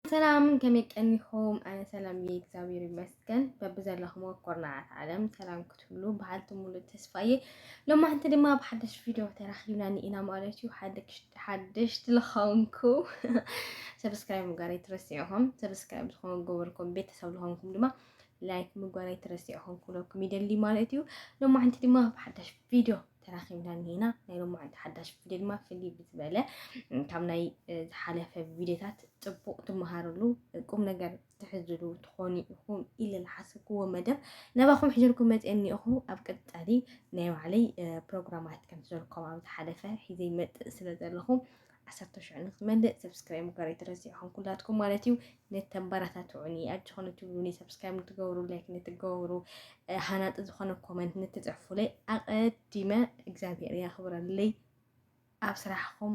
ሰላም ከመይ ቀኒኹም? ኣነ ሰላም እየ እግዚኣብሔር ይመስገን። በብዘለኹም ኮርናዓት ዓለም ሰላም ክትብሉ በሃልቲ ሙሉእ ተስፋ እየ። ሎማዕንቲ ድማ ኣብ ሓደሽ ቪድዮ ተራኺብና ኢና ማለት እዩ። ሓደሽ ዝለኸንኩ ሰብስክራይብ ምግባር ኣይትረስዑኹም። ሰብስክራይብ ዝኾኑ ገበርኩም ቤተሰብ ዝኾንኩም ድማ ላይክ ምግባር ኣይትረስዑኹም ክብለኩም ይደሊ ማለት እዩ። ሎማዕንቲ ድማ ኣብ ሓደሽ ቪድዮ ተራኺብና እኒና ናይ ሎማዓንቲ ሓዳሽ ቪድዮ ድማ ፍልይ ብዝበለ ካብ ናይ ዝሓለፈ ቪድዮታት ፅቡቕ ትመሃርሉ ቁም ነገር ትሕዝሉ ትኾኑ ኢኹም ኢለ ዝሓሰብክዎ መደብ ነባኹም ሕጀልኩም መፅአ እኒኹ ኣብ ቀፃሊ ናይ ባዕለይ ፕሮግራማት ከም ዘለኩም ኣብ ዝሓለፈ ሒዘ ይመፅእ ስለ ዘለኹም ዓሰርተ ሽዑ ንክመልእ ሰብስክራይብ ምግባር ኣይትረስዑ ኩላትኩም ማለት እዩ ነተበረታትዑኒ ኣጆኹ ንትብሉኒ ሰብስክራይብ ንትገብሩ ላይክ ንትገብሩ ሃናጢ ዝኾነ ኮመንት ንትፅሕፉለይ ኣቐዲመ እግዚኣብሔር የኽብረለይ ኣብ ስራሕኹም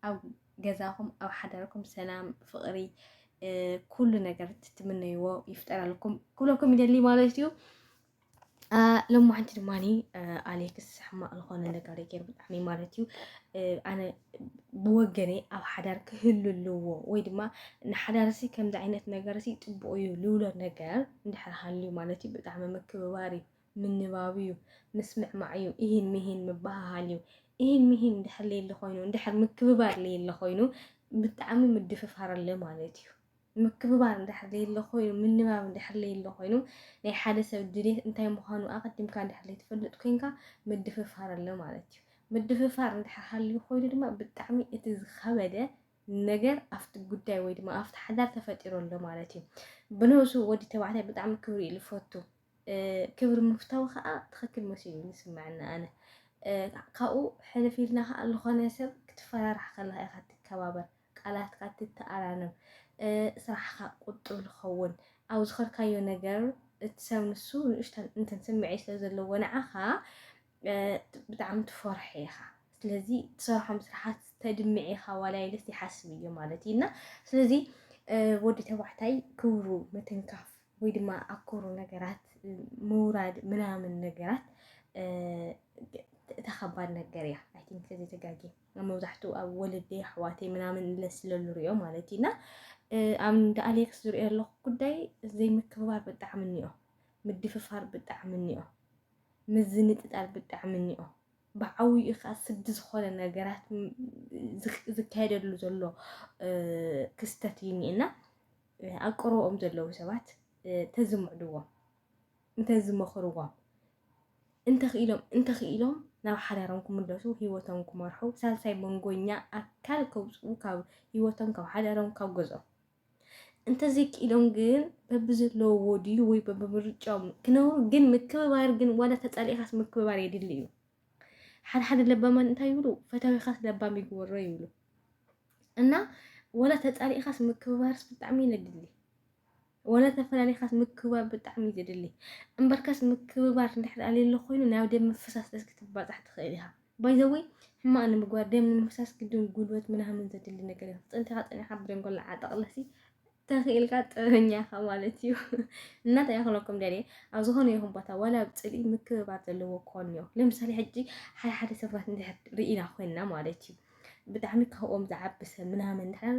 ኣብ ገዛኹም ኣብ ሓዳርኩም ሰላም ፍቅሪ ኩሉ ነገር ትትምነይዎ ይፍጠረልኩም ኩለኩም ይደሊ ማለት እዩ ሎማዓንቲ ድማ ኣሌክስ ሕማቅ ዝኾነ ነገር ገይሩ ብጣዕሚ ማለት እዩ ኣነ ብወገነይ ኣብ ሓዳር ክህሉ ኣለዎ ወይ ድማ ንሓዳርሲ ከምዚ ዓይነት ነገር ሲ ፅቡቅ እዩ ልብሎ ነገር እንድሕር ሃልዩ ማለት እዩ ብጣዕሚ ምክብባር እዩ ምንባብ እዩ ምስምዕማዕ እዩ ይህን ምሂን ምበሃሃል እዩ ይህን ምሂን እንድሕር ለየለ ኮይኑ እንድሕር ምክብባር ለየለ ኮይኑ ብጣዕሚ ምድፍፋር ኣለ ማለት እዩ ምክብባር እንድሕር ዘየሎ ኮይኑ፣ ምንባብ እንድሕር ዘየሎ ኮይኑ፣ ናይ ሓደ ሰብ ድሌት እንታይ ምዃኑ ኣቐዲምካ እንድሕር ዘይትፈልጥ ኮይንካ ምድፍፋር ኣሎ ማለት እዩ። ምድፍፋር እንድሕር ሃልዩ ኮይኑ ድማ ብጣዕሚ እቲ ዝኸበደ ነገር ኣብቲ ጉዳይ ወይ ድማ ኣብቲ ሓዳር ተፈጢሩ ኣሎ ማለት እዩ። ብነብሱ ወዲ ተባዕታይ ብጣዕሚ ክብሪ እዩ ዝፈቱ። ክብሪ ምፍታው ከዓ ትኽክል መሲሉ ዝስምዐኒ ኣነ ካብኡ ሕልፍ ኢልና ከዓ ዝኾነ ሰብ ክትፈራራሕ ከለካ ኢኻ ትከባበር ቃላትካ እትተኣራረም፣ ስራሕካ ቁጡብ ዝኸውን፣ ኣብ ዝኸድካዮ ነገር እቲ ሰብ ንሱ ንእሽተን እንትን ስምዒት ስለ ዘለዎ ንዓኻ ብጣዕሚ ትፈርሖ ኢኻ። ስለዚ ትሰርሖም ስራሓት ተድምዕ ኢኻ ዋላ ኢለስ ይሓስብ እዮ ማለት እዩ እና ስለዚ ወዲ ተባዕታይ ክብሩ ምትንካፍ ወይ ድማ ኣብ ክብሩ ነገራት ምውራድ ምናምን ነገራት ተኸባድ ነገር እያ። ኣይ ቲንክ እዚ ተጋጊ መብዛሕቱ ኣብ ወለደይ ኣሕዋተይ ምናምን እለ ስለልሪኦ ማለት እዩ እና ኣብ እንደ ኣሌክስ ዝሪኦ ኣለኩ ጉዳይ ዘይምክብባር ብጣዕሚ እኒኦ ምድፍፋር ብጣዕሚ እኒኦ ምዝንጥጣል ብጣዕሚ እኒኦ ብዓብይኡ ከዓ ስዲ ዝኾነ ነገራት ዝካየደሉ ዘሎ ክስተት እዩ እኒኤና ኣብ ቀረብኦም ዘለዉ ሰባት ተዝምዕድዎም እንተዝመኽርዎም እንተኽኢሎም እንተኽኢሎም ናብ ሓዳሮም ክምለሱ ሂወቶም ክመርሑ ሳልሳይ መንጎኛ ኣካል ከውፅኡ ካብ ሂወቶም ካብ ሓዳሮም ካብ ገዝኦም እንተዘይክኢሎም ግን በብዘለዎ ድዩ ወይ በብምርጫኦም ክነብሩ ግን ምክብባር ግን ዋላ ተፃሊእኻስ ምክብባር የድሊ እዩ። ሓደ ሓደ ለባማን እንታይ ይብሉ ፈታዊኻስ ለባም ይግበሮ ይብሉ እና ዋላ ተፃሊእኻስ ምክብባርስ ብጣዕሚ የድሊ ወላ ተፈላሊኻስ ምክብባር ብጣዕሚ እዩ ዘድሊ እምበርካስ ምክብባር እንድሕር ኣልየሎ ኮይኑ ናብ ደም ምፍሳስ ድረስ ክትባጻሕ ትኽእል ኢኻ ባይ ዘ ወይ ሕማቕ ንምግባር ደም ንምፍሳስ ግድን ጉልበት ምናምን ዘድሊ ነገር እዩ ክትጸንቲኻ ጸኒኻ ብደንጎላ ዓጠቕለሲ ተኽኢልካ ጥበበኛ ኢኻ ማለት እዩ እና እንታይ ይኽለኩም ደልየ ኣብ ዝኾነ ይኹን ቦታ ዋላ ኣብ ጽልኢ ምክብባር ዘለዎ ክኾን እዩ ለምሳሌ ሕጂ ሓደ ሓደ ሰባት እንድሕር ርኢና ኮይንና ማለት እዩ ብጣዕሚ ካብኦም ዝዓቢ ሰብ ምናምን እንድሕር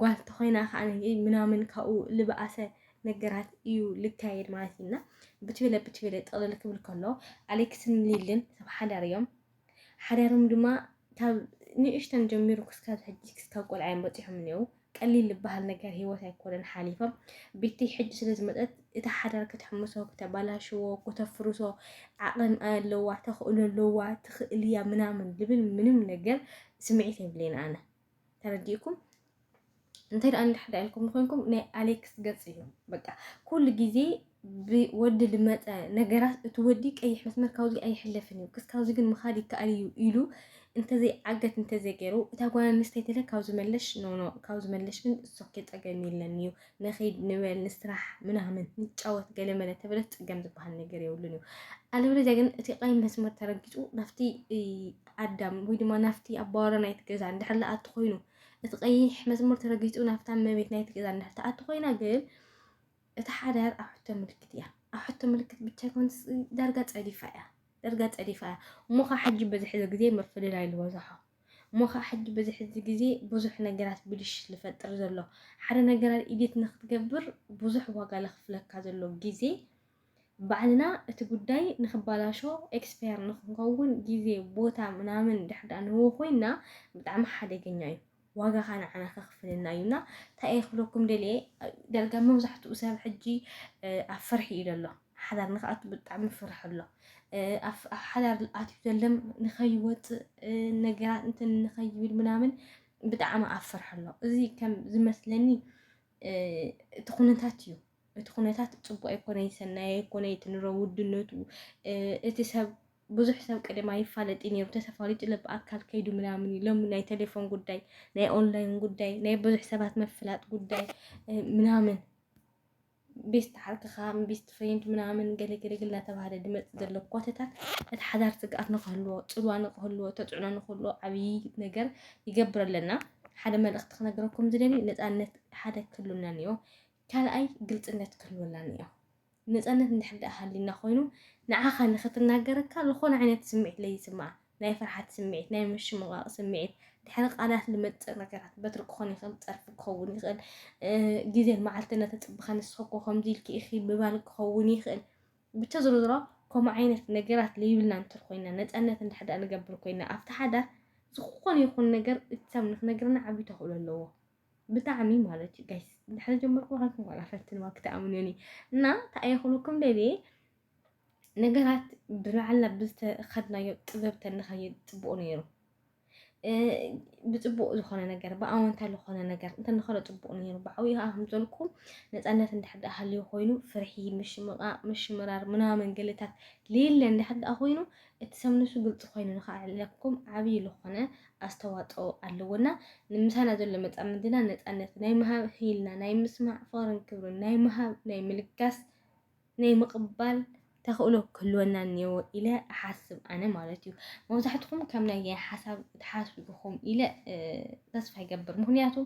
ጓል ተኾይና ከኣ ምናምን ካብኡ ልበኣሰ ነገራት እዩ ልካየድ ማለት እዩ እና ብትብለ ብትብለ ጥቕልል ክብል ከሎ ኣሌክስን ሊልን ሰብ ሓዳር እዮም ሓዳሮም ድማ ካብ ንእሽተን ጀሚሩ ክስካብ ሕጂ ክስካብ ቆልዓ እዮም በፂሖም እኒው ቀሊል ዝበሃል ነገር ሂወት ኣይኮነን ሓሊፎም ቤተይ ሕጂ ስለ ዝመፀት እቲ ሓዳር ክትሕምሶ ክተባላሽዎ ክተፍርሶ ዓቕን ኣለዋ ተኽእሎ ኣለዋ ትኽእልያ ምናምን ልብል ምንም ነገር ስምዒት የብለይን ኣነ ተረዲእኩም እንታይ ደኣ እንድሕዳ ኢልኩም ንኮንኩም ናይ ኣሌክስ ገጽ እዩ በቃ ኩሉ ግዜ ብወዲ ልመፀ ነገራት እቲ ወዲ ቀይሕ መስመር ካብዚ ኣይሕለፍን እዩ ክስካብዚ ግን ምኻድ ይከኣል እዩ ኢሉ እንተዘይ ዓገት እንተዘይ ገይሩ እታ ጓል ኣንስተይቲ ለ ካብዚ መለሽ ኖኖ ካብዚ መለሽ ግን እሶኬ ፀገም የለን እዩ ንኺድ ንበል ንስራሕ ምናምን ንጫወት ገለመለ ተበለ ፅገም ዝበሃል ነገር የብሉን እዩ ኣለበለዚያ ግን እቲ ቀይ መስመር ተረጊፁ ናፍቲ ኣዳም ወይ ድማ ናፍቲ ኣባወራ ናይቲ ገዛ እንድሕር ለኣቲ ኮይኑ እቲ ቀይሕ መስመር ተረጊፁ ናፍታ መቤት ናይቲ ገዛ እንድሕር ተኣቲ ኮይና ግን እቲ ሓዳር ኣብ ሕቶ ምልክት እያ ኣብ ሕቶ ምልክት ብቻ ይኮን ዳርጋ ፀዲፋ እያ ዳርጋ ፀዲፋ እያ እሞ ከዓ ሕጂ በዚ ሕዚ ግዜ ምፍልላይ ዝበዝሖ እሞ ከኣ ሕጂ በዚ ሕዚ ግዜ ብዙሕ ነገራት ብልሽት ልፈጥር ዘሎ ሓደ ነገራር ኢዲት ንክትገብር ብዙሕ ዋጋ ለክፍለካ ዘሎ ግዜ ባዕልና እቲ ጉዳይ ንክባላሾ ኤክስፓየር ንክንከውን ግዜ ቦታ ምናምን ድሕር ደኣ ንህቦ ኮይና ብጣዕሚ ሓደገኛ እዩ ዋጋኻ ንዓና ከክፍልና እዩ እና እንታይ እየ ክብለኩም ደልየ ዳርጋ መብዛሕትኡ ሰብ ሕጂ ኣብ ፍርሒ እዩ ዘሎ ሓዳር ንክኣቱ ብጣዕሚ ፍርሒ ኣሎ ኣብ ሓዳር ኣትዩ ዘለም ንኸይወፅእ ነገራት እንትን ንኸይብል ምናምን ብጣዕሚ ኣብ ፍርሒ ኣሎ እዚ ከም ዝመስለኒ እቲ ኩነታት እዩ እቲ ኩነታት ፅቡቅ ኣይኮነ ይሰናይ ኣይኮነ እቲ ንሮ ውድነቱ እቲ ሰብ ብዙሕ ሰብ ቅድም ኣይፋለጥ ነይሩ ተሰፋሪጡ ለብ ኣካል ከይዱ ምናምን እዩ ሎሚ ናይ ቴሌፎን ጉዳይ ናይ ኦንላይን ጉዳይ ናይ ብዙሕ ሰባት መፍላጥ ጉዳይ ምናምን ቤስት ዓርክኻ ቤስት ፍሬንድ ምናምን ገለገለግል እናተባህለ ድመፅ ዘሎ ኮተታት እቲ ሓዳር ስግኣት ንክህልዎ ፅልዋ ንክህልዎ ተፅዕኖ ንክህልዎ ዓብዪ ነገር ይገብር ኣለና ሓደ መልእኽቲ ክነግረኩም ዝደሊ ነፃነት ሓደ ክህሉና እኒኦ ካልኣይ ግልፅነት ክህልወና እኒኦ ነፃነት እንድሕር ደኣ ሃሊና ኮይኑ ንዓኻ ንክትናገረካ ዝኾነ ዓይነት ስምዒት ለይስማዕ ናይ ፍርሓት ስምዒት፣ ናይ ምሽምቓቕ ስምዒት፣ ድሕሪ ቃላት ልመጽእ ነገራት፣ በትሪ ክኾን ይኽእል፣ ጸርፊ ክኸውን ይኽእል፣ ግዜን መዓልቲ እናተጸበኻ ንስኺ እኮ ከምዚ ኢልኪ ኢኺ ምባል ክኸውን ይኽእል። ብቻ ዝሮ ዝሮ ከምኡ ዓይነት ነገራት ለይብልና እንትር ኮይና ነፃነት እንድሕዳ ንገብር ኮይና ኣብቲ ሓዳር ዝኾነ ይኹን ነገር እቲ ሰብ ንክነግረና ዓብ ተኽእሎ ኣለዎ ብጣዕሚ ማለት እዩ ጋይስ ድሕሪ ጀመርኩ ዋላ ፈትንዋ ክትኣምኑኒ እና ተኣየኽሉኩም ደልየ ነገራት ብባዕልና ብዝተኸድናዮ ጥበብ ተንኸይድ ፅቡቅ ነይሩ ብፅቡቅ ዝኾነ ነገር ብኣወንታ ዝኾነ ነገር እንተንኸዶ ፅቡቅ ነይሩ ብዓብዩ ከዓ ከምዘልኩም ነፃነት እንድሕር ደኣ ሃልዩ ኮይኑ ፍርሒ ምሽምቃቅ ምሽምራር ምናምን ገለታት ሌለ እንድሕር ደኣ ኮይኑ እቲ ሰብ ንሱ ግልፂ ኮይኑ ንክዕለኩም ዓብዪ ዝኾነ ኣስተዋፅኦ ኣለዎና ንምሳና ዘሎ መፃምድና ነፃነት ናይ ምሃብ ህልና ናይ ምስማዕ ፍቅርን ክብርን ናይ ምሃብ ናይ ምልጋስ ናይ ምቕባል ተኽእሎ ክህልወና እኒኦ ኢለ እሓስብ ኣነ ማለት እዩ መብዛሕትኹም ከም ናይ ሓሳብ ትሓስቡ ኢኹም ኢለ ተስፋ ይገብር ምክንያቱ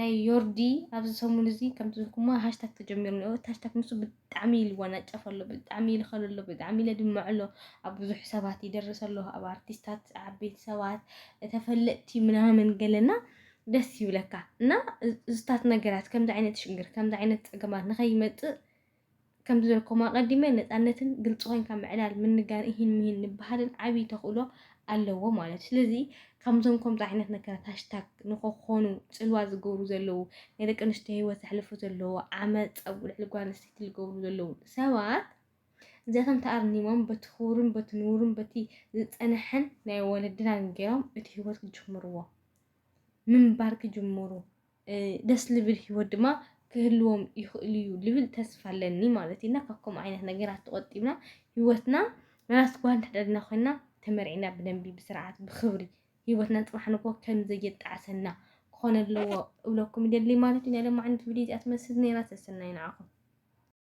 ናይ ዮርዲ ኣብዚ ሰሙን እዚ ከምቲ ዝኩማ ሃሽታግ ተጀሚሩ እኒኦ እቲ ሃሽታግ ንሱ ብጣዕሚ ይልወናጨፍ ኣሎ ብጣዕሚ ይልኸል ኣሎ ብጣዕሚ ይለድምዕ ኣሎ ኣብ ብዙሕ ሰባት ይደርስ ኣሎ ኣብ ኣርቲስታት ዓበይቲ ሰባት ተፈለጥቲ ምናምን ገለና ደስ ይብለካ እና እዝታት ነገራት ከምዚ ዓይነት ሽግር ከምዚ ዓይነት ፀገማት ንኸይመፅእ ከምዚ ዝበልክኹም ኣቐዲመ ነፃነትን ግልፂ ኮይንካ ምዕላል ምንጋር እሂን ምሂን ንበሃልን ዓብዪ ተኽእሎ ኣለዎ ማለት እዩ ስለዚ ከምዞም ከምዚ ዓይነት ነገራት ሃሽታግ ንኸኾኑ ፅልዋ ዝገብሩ ዘለዉ ናይ ደቂ ኣንስትዮ ሂወት ዘሕልፉ ዘለዎ ዓመፅ ኣብ ልዕሊ ጓል ኣንስተይቲ ዝገብሩ ዘለዉ ሰባት እዚኣቶም ተኣርኒሞም በቲ ክቡርን በቲ ንቡርን በቲ ዝፀንሐን ናይ ወለድናን ገይሮም እቲ ሂወት ክጅምርዎ ምንባር ክጅምሩ ደስ ልብል ሂወት ድማ ክህልዎም ይኽእሉ እዩ ልብል ተስፋ ኣለኒ ማለት እዩ እና ካብ ከምኡ ዓይነት ነገራት ተቖጢብና ሂወትና ናት ጓል እንተደልና ኮይና ተመርዒና ብደንቢ ብስርዓት ብኽብሪ ሂወትና ፅባሕ ንጎ ከም ዘየጣዕሰና ክኾነ ኣለዎ እብለኩም ይደሊ ማለት እዩ ናይ ሎማዕንቲ ቪድዮ እዚኣ ትመስል ነይራ ሰሰናይ ንዓኹም